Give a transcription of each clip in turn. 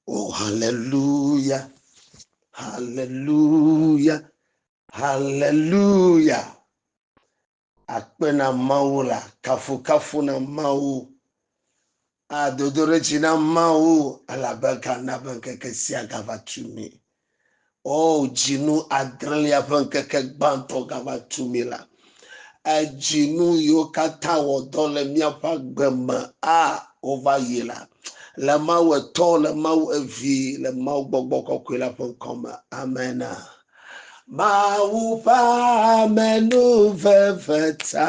O haleluya, haleluya, haleluya. Akpe na Mawu la, kafukafu na Mawu. Adodoɖedzi na Mawu elabe gana be ŋkeke sia gava tu mi. O, dzinu adrelia ƒe ŋkeke gbãtɔ gava tu mí la, edzinu yiwo katã wɔ dɔ le míaƒe agbe me, a, wova yi la, le Mawu Etɔ, le Mawu Evi, le Mawu Gbɔgbɔ Kɔkɔe la ƒe ŋkɔ me. Amena. Mawu ƒe amenuveve ta.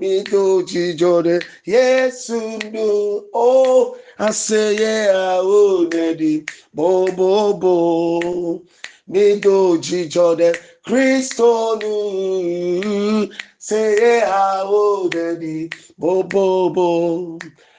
Mido dzidzɔ ɖe Yesu nu, o oh, aseye awo neɖi bobobo. Mido dzidzɔ ɖe Kristo nu, seye awo neɖi bobobo.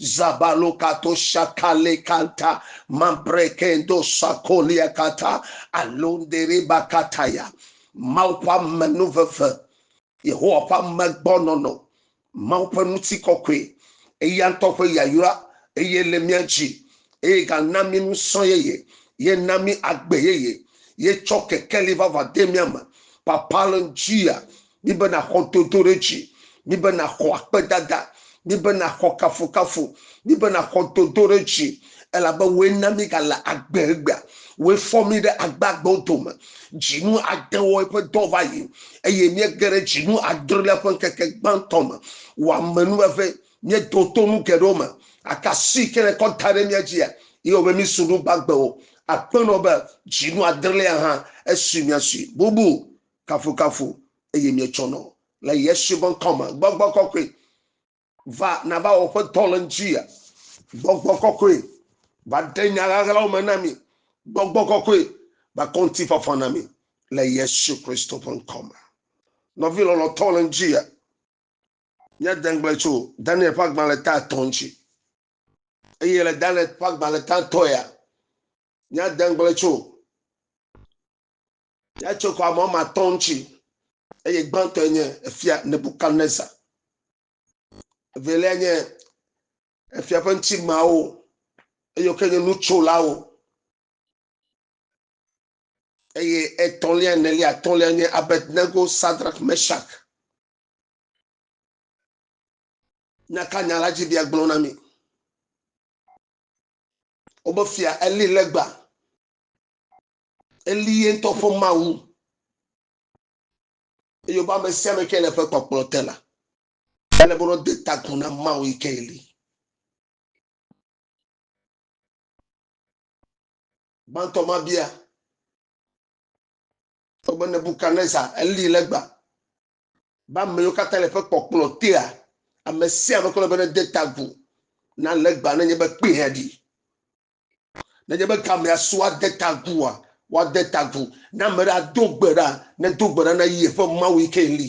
Zabalo kato shakale kanta mambrekendo sakolia kata alondere bakataya. Mawu ƒe amenuveve, Yehowa ƒe amegbɔnɔnɔ, Mawu ƒe ŋutikɔkɔe, eya ŋutɔ ƒe yayra, eye le mía dzi, eye gana mí ŋusẽ yeye, ye na mí agbe yeye, ye tsɔ kekeli vavã de mía me. Papalon Jia Míbe nàxɔ dodoɖedzi. Míbe nàxɔ akpedada. Míbe nàxɔ kafukafu. Míbe nàxɔ dodoɖedzi, elabe wòe na míegale agbe egbea. Wòe fɔ mí ɖe agbeagbewo dome. Dzinu adewoe ƒe dɔ va yi, eye míege ɖe dzinu adrelia ƒe ŋkeke gbãtɔ me. Wò amenuveve, míedo to nu geɖewo me, gake asi ke nèkɔ da ɖe mía dzia, yee wɔ be mísu nu gbagbewo. Aƒenɔ be, Dzinu adrelia hã, esui miasui. Bubu Kafukafu eye mietsɔ nɔ le Yesu ƒe ŋkɔ me. Gbɔgbɔ kɔkɔe, va nava wɔ ƒe dɔ le ŋutia. Gbɔgbɔ kɔkɔe, va ɖe nya ɣaɣlawo me na mi. Gbɔgbɔ kɔkɔe, va kɔ ŋutifafa na mi le Yesu Kristo ƒe ŋkɔ me. Nɔvi lɔlɔtɔ le ŋutia, míade ŋugble tso Daniel ƒe agbalẽ ta etɔ̃ ŋuti. Eye le Daniel ƒe agbalẽ ta etɔ̃ ya, míade ŋugble tso Yɛatso xɔ ame woame atɔ̃ ŋuti eye gbãtɔe nye efia Nebukadnezar. Evelia nye efia ƒe ŋutimeawo eye woke nye nutsolawo eye etɔ̃lia, enelia, atɔ̃lia nye Abednego, Sadrak, Meshak. Nya ka nya la dzi bia gblɔ na mi? Wobe fia eli legba Eli ye ŋutɔ ƒe Mawu. Eye wobe ame sia ame ke le eƒe kpɔkplɔ te la, ele be wòde ta agu na Mawu yi ke Eli. Gbãtɔ ma bia wobe Nebukadnezar, Eli legba, be ame yiwo katã le eƒe kpɔkplɔ tea, ame sia ame ke le be nede ta agu na legba ne nye be kpee aɖi. Nenye be gamea su woade ta agua, woade ta agu. Ne ame ɖe ado gbe ɖa, nedo gbe ɖa na yeƒe Mawu yi ke li.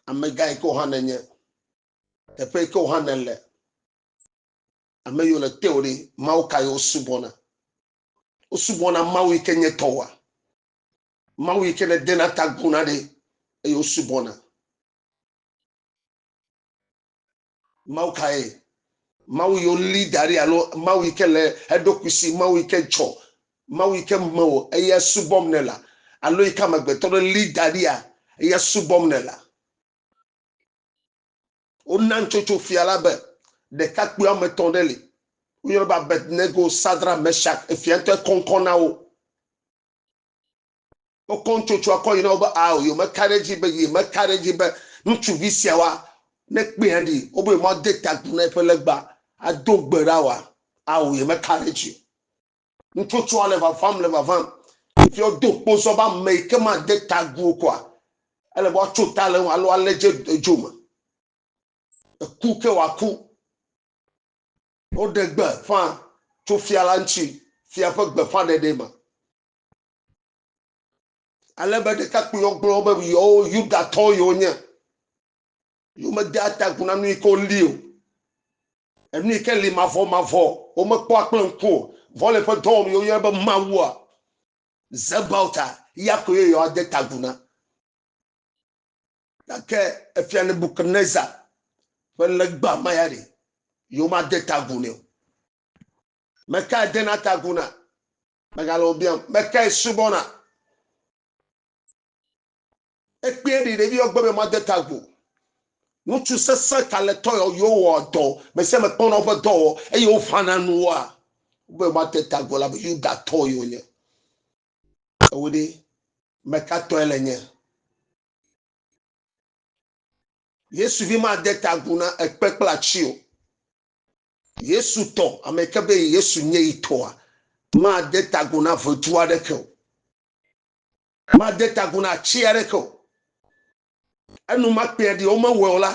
Amegã yi ke wòhã nenye, teƒe yi ke wòhã nele, ame yiwo le teo ɖe, Mawu ka yi wosubɔna? Wosubɔna Mawu yi ke nye tɔwoa? Mawu yi ke nedena ta aguna ɖe eye wosubɔna. Mawu kae? Mawu yi woli da ɖi alo Mawu yi ke le eɖokui si, Mawu yi ke dzɔ, Mawu yi ke me wò eya subɔm nèlea alo yi ke amegbetɔ ɖe li da ɖia eya subɔm nèlea? Wona nutsotso fia la be ɖekakpui woame etɔ̃ ɖe li. Woyɔnɛ be Abednego, Sadrak, Mesak, efia ŋutɔ ekɔŋkɔ na wo. Wokɔ nutsotso akɔ yi na wo be, Ao, yewomeka ɖe edzi be, yemeka ɖe edzi be ŋutsuvi sia wa ne kpee aɖi o, be yemade ta agu na eƒe legba ado gbe ɖa oa? Ao, yemeka ɖe edzi o. Nutsotsoa le vavam, le vavam. Fifia wodo kpozɔ be ame yi ke made ta agu o koa, ele be woatso ta le eŋu alo alé dze edzo me. Eku ke wòaku. Woɖe gbe ƒã tso fia la ŋuti, fia ƒe gbeƒãɖeɖee ma. ale be ɖekakpuiwo gblɔ be yewo yudatɔ yewo nye yomede atagu na nu yi ke woli o enu yi ke li mavɔ mavɔ womekpɔa kple ŋku o vɔ le ƒe dɔwɔm yewo yɔna be mawua zebauta ya ko ye yewoade tagu na gake efia nebukadnezar ƒe legba ma ya ɖe yewomade tagu nɛ o meka edena tagu na Megale wo biam be kae subɔna. Ekpee ɖi ɖevi yɔ gbe be ma de ta agu. Ŋutsu sesẽ kaletɔ yɔ yewo wɔ dɔ me sia me kpɔna woƒe dɔ wɔ eye woʋana nuwoa. Be ma de ta agu la be Yuda tɔ yɔ nye. Ewo ɖe meka tɔe le nye. Yesu vi ma de ta agu na ekpe kple atsi o. Yesu tɔ. Ame yi ke be Yesu nye yi tɔa, made ta agu na ʋedu aɖeke o. Made ta agu na atsi aɖeke o. Enumakpea ɖi womewɔe o la,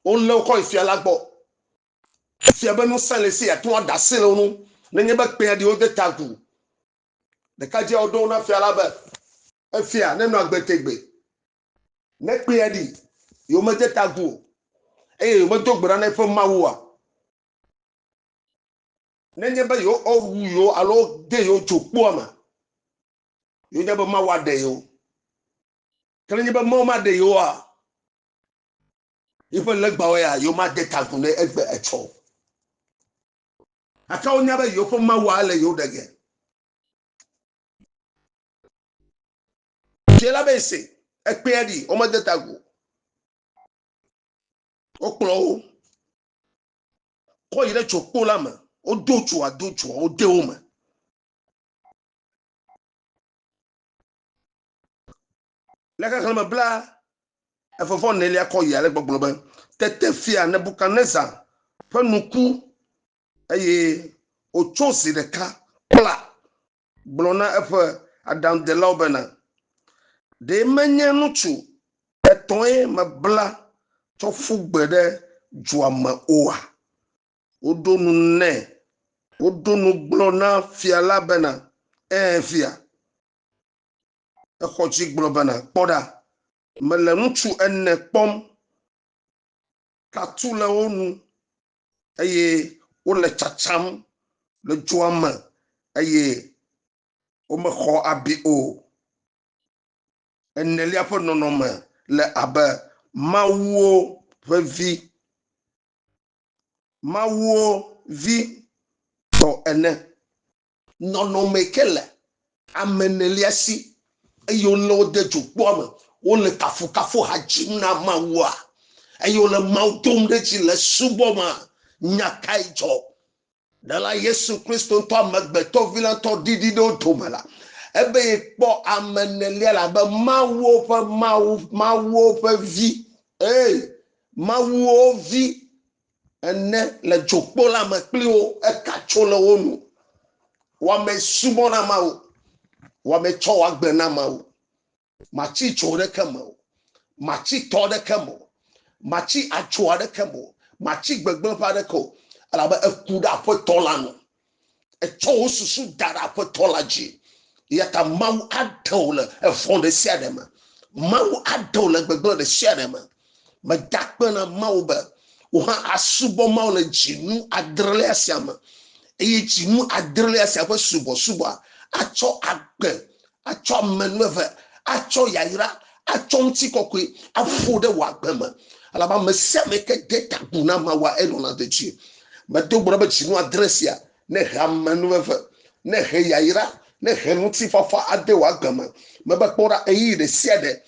wolé wo kɔ yi fia la gbɔ. Efia be ŋusẽ le esi yeate ŋu aɖe asi le wo ŋu nenye be kpea ɖi wode ta agu. Ɖekadzia woɖo eŋu na fia la be, Efia, nenɔ agbe tegbee. Ne kpea ɖi, yewomede ta agu o, eye yewomedo gbe ɖa na eƒe Mawua, nenye be yewowu yewo alo wode yewo dzo kpua me, yewonye be Mawu aɖe yewo. Ke nenye be Mawu maɖe yewoa, yiƒe legbawo ya yewomade ta agu ne egbe etsɔ o. Gake wonya be yewoƒe Mawua le yewo ɖe ge. Fia la be se, ekpea ɖi, womede ta go. Wokplɔ wo, kɔ yi ɖe tsokpo la me, wodo tsoa, do tsoa, wode wo me. Le xexlẽme bla evevɔ nelia kɔ yi ale gbɔgblɔ be, tete fia Nebukadnezar ƒe nu ku eye wòtso zi ɖeka kpla gblɔ na eƒe aɖaŋudelawo bena, Ɖe menye ŋutsu etɔ̃e mebla tsɔ ƒu gbe ɖe dua me oa? Woɖo nu nɛ. Woɖo nu gblɔ na fia la bena, Ẽ, fia. Exɔ dzi gblɔ bena, Kpɔ ɖa, mele ŋutsu ene kpɔm, tatsu le wo nu, eye wole tsatsam le dzoa me eye womexɔ abi o. Enelia ƒe nɔnɔme le abe mawuwo ƒe vi, mawuwo vi tɔ ene. nɔnɔme ke le ame enelia si eye wolé wo de dzokpɔa me, wole kafukafuha dzim na Mawua eye wole Mawu dom ɖe dzi le subɔmea, nya kae dzɔ? Ɖela Yesu Kristo ŋutɔ, Amegbetɔ Vi la ŋutɔ ɖiɖi ɖe wo dome la, ebe yekpɔ ame enelia la abe Mawuwo ƒe Mawu, Mawuwo ƒe Vi, ɛ̃, Mawuwo Vi, ene le dzokpo la me kpli wo eka tso le wo nu wɔme subɔ na mawu wɔme tsɔ wɔ agbe na mawu matsi tso ɖeke me o matsi tɔ ɖeke me o matsi atso aɖeke me o matsi gbegblẽ ƒe aɖeke o elabe eku ɖe aƒetɔ la nu Etsɔ wò susu da ɖe Aƒetɔ la dzi. Eyata Mawu aɖe wò le evɔ̃ ɖesiaɖe me. Mawu aɖe wò le gbegblẽ ɖesiaɖe me. Mede akpe na Mawu be wò hã àsubɔ Mawu le dzinu adrelia sia me. Eye dzinu adrelia sia ƒe subɔsubɔa atsɔ agbe atsɔ ame nu eve, atsɔ yayra, atsɔ ŋutikɔkɔe aƒo ɖe wò agbe me. Elabe ame sia ame ke de ta agu na Mawua, enɔna dedie. Medo gbe ɖa be dzinu adre sia nehe ame nu eve, nehe yayra, nehe ŋutifafa ade wò agbe me. Mebe kpɔ ɖa, ɣeyiɣi ɖe sia ɖe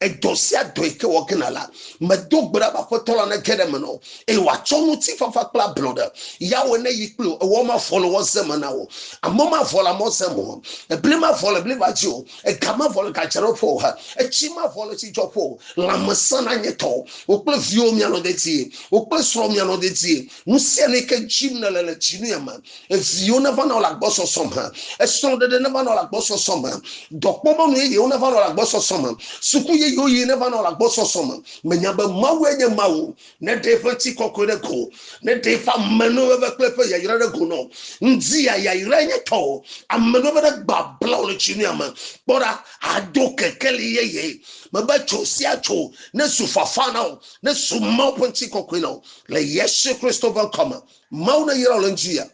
edɔ sia dɔ yi ke wɔ gena la, medo gbe ɖa be Aƒetɔ la nege ɖe eme na wò, eye wòatsɔ ŋutifafa kple ablɔɖe Yahweh neyi kpli wò, ewɔ mavɔ le wò ze me na wò, amɔ mavɔ le amɔ ze me o, ebli mavɔ le bli va dzi o, ega mavɔ le gadzraɖoƒe o, etsi mavɔ le tsidzɔƒe o, lãmesẽ nanye tɔwò, wò kple viwò mianɔ dedie, wò kple srɔ̃wò mianɔ dedie. Nusianu yi ke dzim nèle le dzinu ya me. Viwo neva nɔ le agbɔsɔsɔ me. Esrɔ̃ɖeɖe neva nɔ le agbɔsɔsɔ me. Dɔkpɔmɔnu yeyewo neva nɔ le agbɔsɔsɔ me. Suku yeyewo yiyi neva nɔ le agbɔsɔsɔ me. Mènya be Mawue nye ema o? Neɖe eƒe ŋutikɔkɔe ɖe go. Neɖe eƒe amenuveve kple eƒe yayra ɖe go na wò. Ŋdi ya yayrae nye tɔwò. Amenuveve ɖe gbabla wò le dzinu ya me. Kpɔ ɖa, àdo kekeli yeye. Mebe tso sia tso nezu fafa na wò. ne zu Mawu ƒe ŋutikɔkɔe na wo le Yesu Kristo ƒe ŋkɔ me. Mawu ne yra wò le ŋdi ya,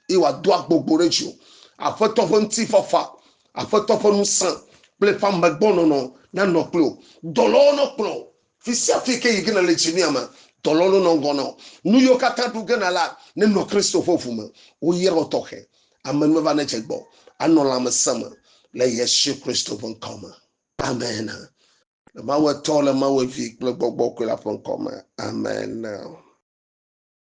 eye wòado agbogbo ɖe dziwò. Aƒetɔ ƒe ŋutifafa, Aƒetɔ ƒe ŋusẽ kple eƒe amegbɔnɔnɔ nanɔ kple wò. Dɔlawo nakplɔ wò fisiafi ke yi ge nèle dzi mía me. Dɔlawo nanɔ ŋgɔ na wò. Nu yiwo katã ɖu ge na la nenɔ Kristo ƒe ʋu me. Woyra wò tɔxɛ. Amenuveve nedze gbɔ anɔ lãmesẽ me le Yesu Kristo ƒe ŋkɔ me. Amen. Le Mawu Etɔ, le Mawu Evi kple Gbɔgbɔ Kɔe la ƒe ŋkɔ me, amen.